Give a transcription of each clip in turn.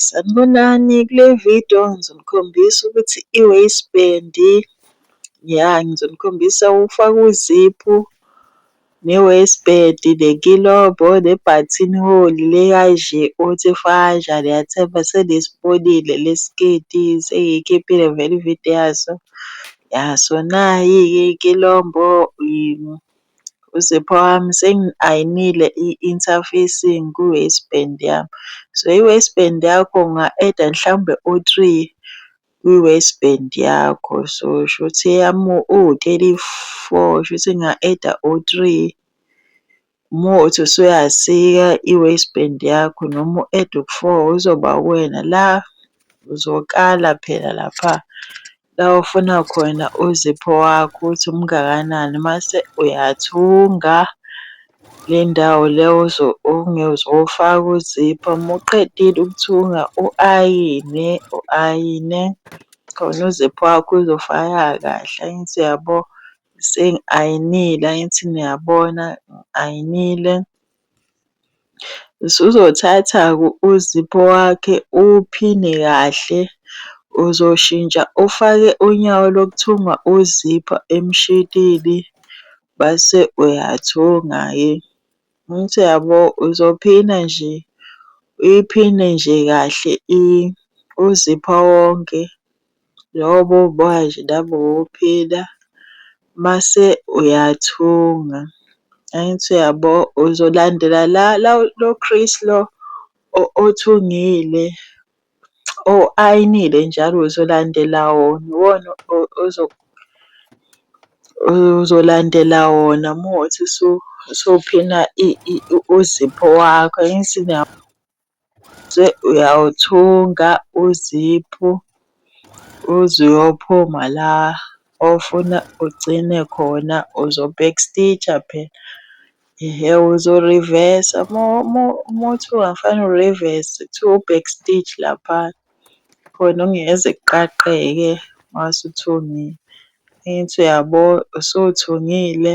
Sanibonani, kule vidiyo ngizonikhombisa ukuthi i-waist band, ya ngizonikhombisa ukufaka uziphu ne-waist band nenkilobo ne-button hole le kanje othi efaka kanjani yathemba senisibonile le sketi sengiyikhiphile vele ividiyo yaso. Ya so nayi-ke inkilobo . Sipho wami sengi-ayinile i-interfacing kwi-waist band yami. So i-waist band yakho unga-eda mhlawumbe u-three kwi-waist band yakho. So shuthi eyami uwu-thirty-four shuthi nginga-eda u-three. Uma kuwukuthi usuyasika i-waist band yakho noma u-ede u-four kuzoba uwena la. Uzokala phela lapha la ofuna khona uzipho wakho ukuthi umngakanani mase uyathunga le ndawo le ozofaka uzipho. Uma uqedile ukuthunga u-ayine, u-ayine khona uzipho wakho uzofaka kahle angithi uyabo. Sengi-ayinile angithi niyabona, ngi-ayinile. Usuzothatha uZipho wakhe uwuphine kahle, uzoshintsha ufake unyawo lokuthunga uZipho emshinini bese uyathunga-ke. Angithi uyabo? Uzophina nje, uyiphine nje kahle uZipho wonke. Yobo uboya nje nami uphina mase uyathunga. Angithi uyabo uzolandela la la lo Chris lo othungile o-ayinile njalo uzolandela wona. Iwona uzolandela wona uma kuwukuthi usuphina uzipho wakho angithi . Bese uyawuthunga uziphu uze uyophuma la ofuna ugcine khona uzo-back stitch-a phela. Ehhe uzo-reverse-sa uma uthunga kufanele u-reverse-se kuthiwa u-back stitch lapha khona okungeke kuqaqeke uma usuthungile. Angithi uyabo? Usuthungile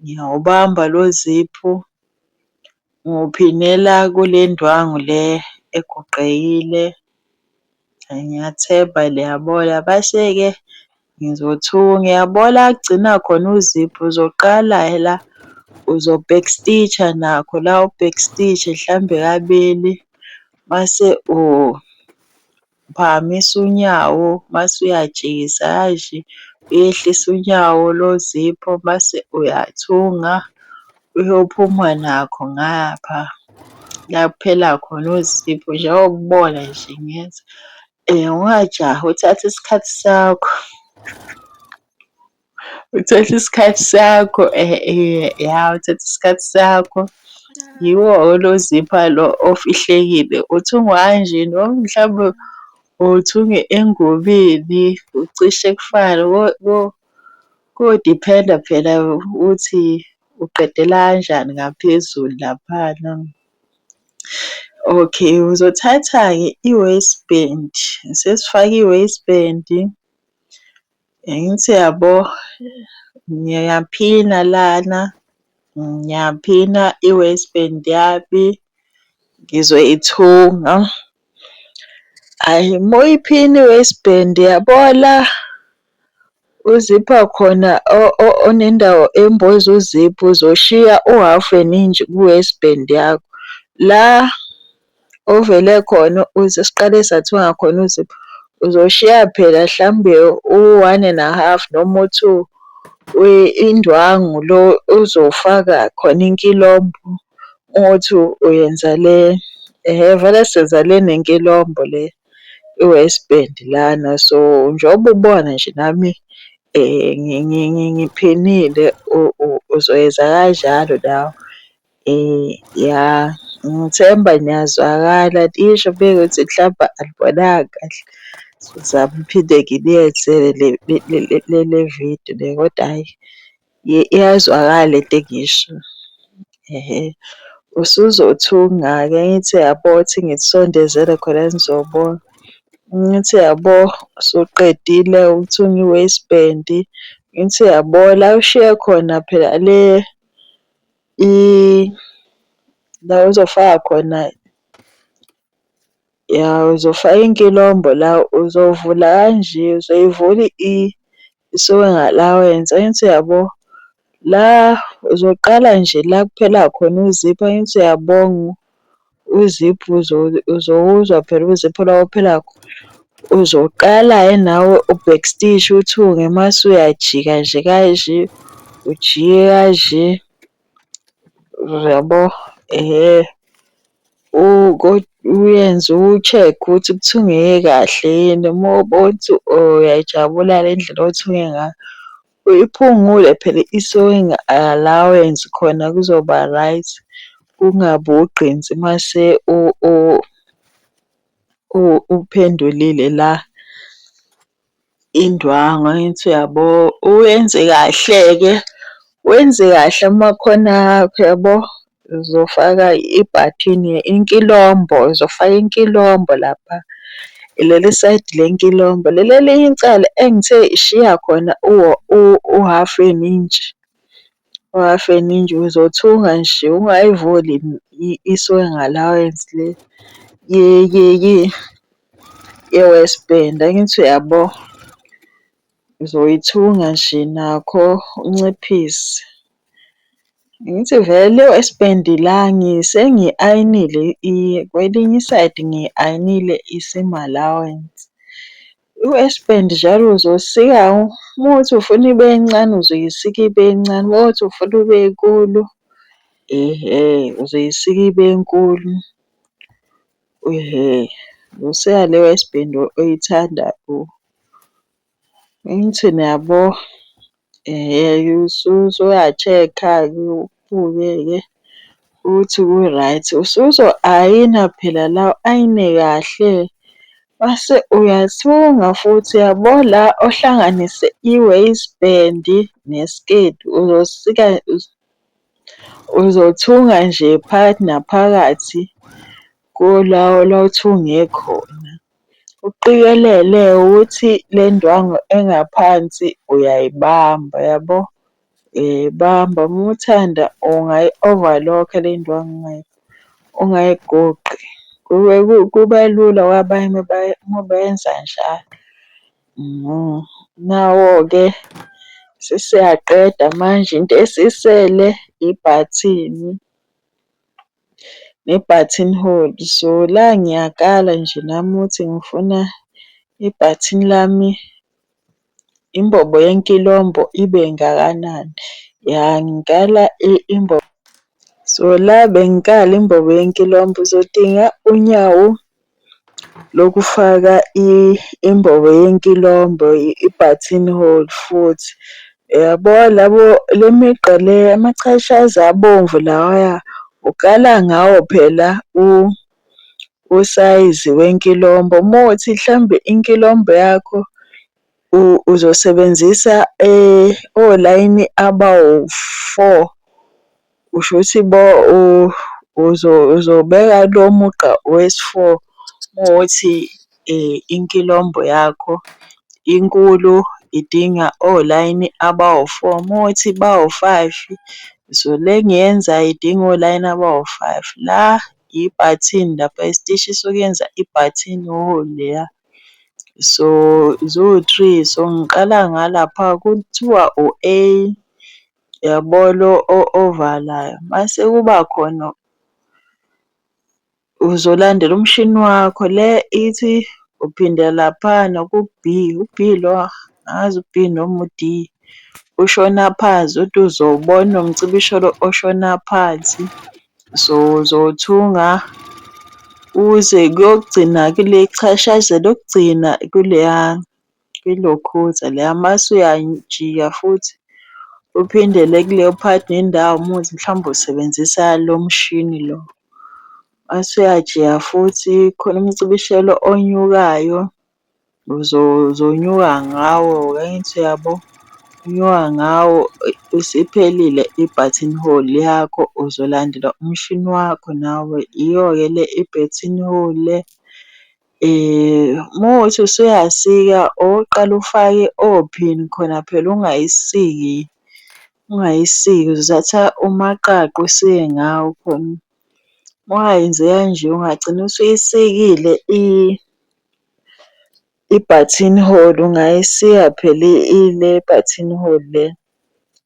Ngiyawubamba lo ziphu, ngiwuphinela kule ndwangu le egoqekile. Ngiyathemba liyabola, base-ke ngizothunga. Uyabona la kugcina khona uziphu, uzoqala la uzo-back stitch-a nakho la u-back stitch-e hlambe kabili mase Uphakamisa unyawo mase uyajikisa yazi, uyehlisa unyawo lozipho mase uyathunga uyophuma nakho ngapha la kuphela khona uzipho njengoba ubona nje ngenza. Ungajahi uthathe isikhathi sakho. Uthatha isikhathi sakho ya uthatha isikhathi sakho. Yiwo-ke lo zipha lo ofihlekile. Uthungwa kanje noma mhlawumbe uthunge engubeni, ucishe kufane ko-depend-a phela ukuthi uqedela kanjani ngaphezulu laphana. Okay, uzothatha-ke i-waist band, sesifake i-waist band. Angithi yabo ngiyaphina lana, ngiyaphina i-waist band yami, ngizwe ithunga. Ayi uma uyiphina i-waist band yabo la uzipha khona onendawo emboza uziphu uzoshiya uhhafu weningi ku-waist band yakho. La Uvele khona uze siqale sathunga khona uzipho uzoshiya phela hlambe u-one and a half noma u-two indwangu lo uzofaka khona inkilombo uthi uyenza le hhe vele senza le nenkilombo le i-waist band lana. So, njengoba ubona nje nami ngiphinile uzoyenza kanjalo nawe. Ya ngithemba niyazwakala lisho mekuthi mhlampe alibonanga kahle. Ngizama ukuphinde ngiliyenzele le vidiyo le kodwa hhayi iyazwakala le nto engiyishoyo. Usuzothunga ake ngithi yabo uthi ngikusondezele khona nizobona. Ngithi yabo usuqedile ukuthunga i-waist band, ngithi yabo la ushiye khona phela le La ozofaka khona ya uzofaka inkilombho la uzovula kanje uzoyivula isuke ngala wenze angithi uyabo. La uzoqala nje la kuphela khona uzipho angithi uyabonga uziphu uzowuzwa phela uziphu la ophela khona. Uzoqala-ke nawe u-back stitch uthunge mase uyajika nje kanje, ujike kanje, uyabo? Ehhe. Uyenze uwu-check ukuthi kuthungeke kahle yini, uma ubona ukuthi uyayijabula-ke indlela othunge ngayo, Uyiphungule phela i-sewing allowance khona kuzoba right, kungabi ugqinsi mase uphendulile la indwangu angithi uyabo. Uyenze kahle-ke, wenze kahle amakhono akho yabo, Uzofaka ibhathini inkilombo, uzofaka inkilombo lapha. Leli sayidi lenkilombo. Leli elinye icala engithe shiya khona uhafu inintshi, uhafu inintshi uzothunga nje ungayivuli isuke ngalawensi le ye-waist band, angithi uyabo? Uzoyithunga nje nakho unciphise. Ngithi vele isipendi la sengi-ayinile kwelinye isayidi ngi-ayinile i-sim allowance. Isipendi njalo uzosika uma uthi ufuna ibe ncane uzoyisika ibe ncane, uma uthi ufuna ibe nkulu ehhe uzoyisika ibe nkulu. Ehhe, uzosika leyo yesipendi oyithandayo. Ngithi niyabo usuya-check-a ubuke-ke ukuthi ku-right. Usuzo-ayina phela la u-ayine kahle mase uyathunga futhi yabo la ohlanganise i-waist band nesiketi uzosika uzothunga nje phakathi naphakathi kulawo la othunge khona. Uqikelele ukuthi le ndwangu engaphansi uyayibamba yabo. Uyayibamba uma uthanda ungayi-overlock-a le ndwangu ungayigoqi. Kuba lula kwabanye uma beyenza njalo. Nawo-ke sesiyaqeda manje into esisele ibhathini. ne button hole so la ngiyakala nje nami ukuthi ngifuna ibhathini lami imbobo yenkilombo ibe ngakanani. Ya ngikala imbobo so la bengikala imbobo yenkilombo uzodinga unyawo lokufaka imbobo yenkilombo, i-button hole futhi. Uyabo labo le migqa le amachashazi abomvu lawaya ukala ngawo phela usayizi wenkilombo. Uma kuwukuthi mhlawumbe inkilombo yakho uzosebenzisa olayini abawu-four, Kusho ukuthi bo uzobeka lo mugqa wesi-four uma kuwukuthi inkilombho yakho inkulu idinga olayini abawu-four. Uma kuwukuthi bawu-five, so le engiyenza idinga olayini abawu-five. La ibhathini lapha isitishi sokuyenza ibhathini leya. So ziwu-three, so ngiqala ngalapha kuthiwa u-A. Uyabo lo ovalayo mase kuba khona uzolandela umshini wakho le ithi uphinde laphana ku-B, u-B lo angazi u-B noma u-D. Ushona phansi uthi uzowubona umcibisholo oshona phansi. So uzothunga uze kuyogcina kule chashazi lokugcina kuleya. Ilokhuzane leya mase uyajika futhi uphindele kuleyo part nendawo uma kuwukuthi mhlawumbe usebenzisa lo mshini lo. Mase uyajika futhi khona umcibisholo onyukayo uzonyuka ngawo angithi uyabo? Unyuka ngawo isiphelile i-button hole yakho uzolandela umshini wakho nawe. Iyo-ke le i-button hole le Uma kuwukuthi usuyasika okokuqala ufake ophini khona phela ungayisiki, ungayisiki uzothatha umaqaqa usike ngawo khona. Uma ungayenzi kanje ungagcina usuyisikile i-button hole, ungayisika phela ile button hole le.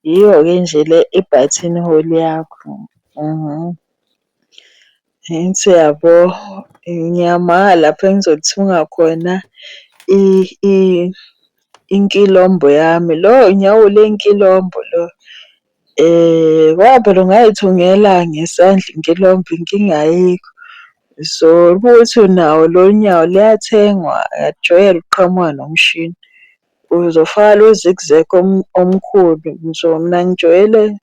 Yiyo-ke nje le i-button hole yakho . Angithi uyabo ngiyamanga lapho engizolithunga khona inkilombo yami. Lo nyawo lenkilombo lo ngoba phela ungay'thungela ngesandla inkilombo inkinga ayikho. So uma kuwukuthi unawo lo nyawo liyathengwa uyakujwayela ukuqhamuka nomshini. Uzofaka lo zigzag omkhulu so mina ngijwayele.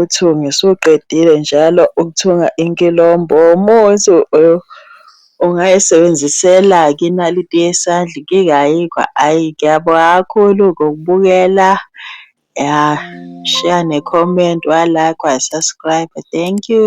Uthunga usuqedile njalo ukuthunga inkilombo umuthi ungayisebenzisela-ke inaliti yesandla inkinga ayikho ayi ngiyabonga kakhulu ngokubukela ya shiya ne-comment wa-like wa-subscribe thank you.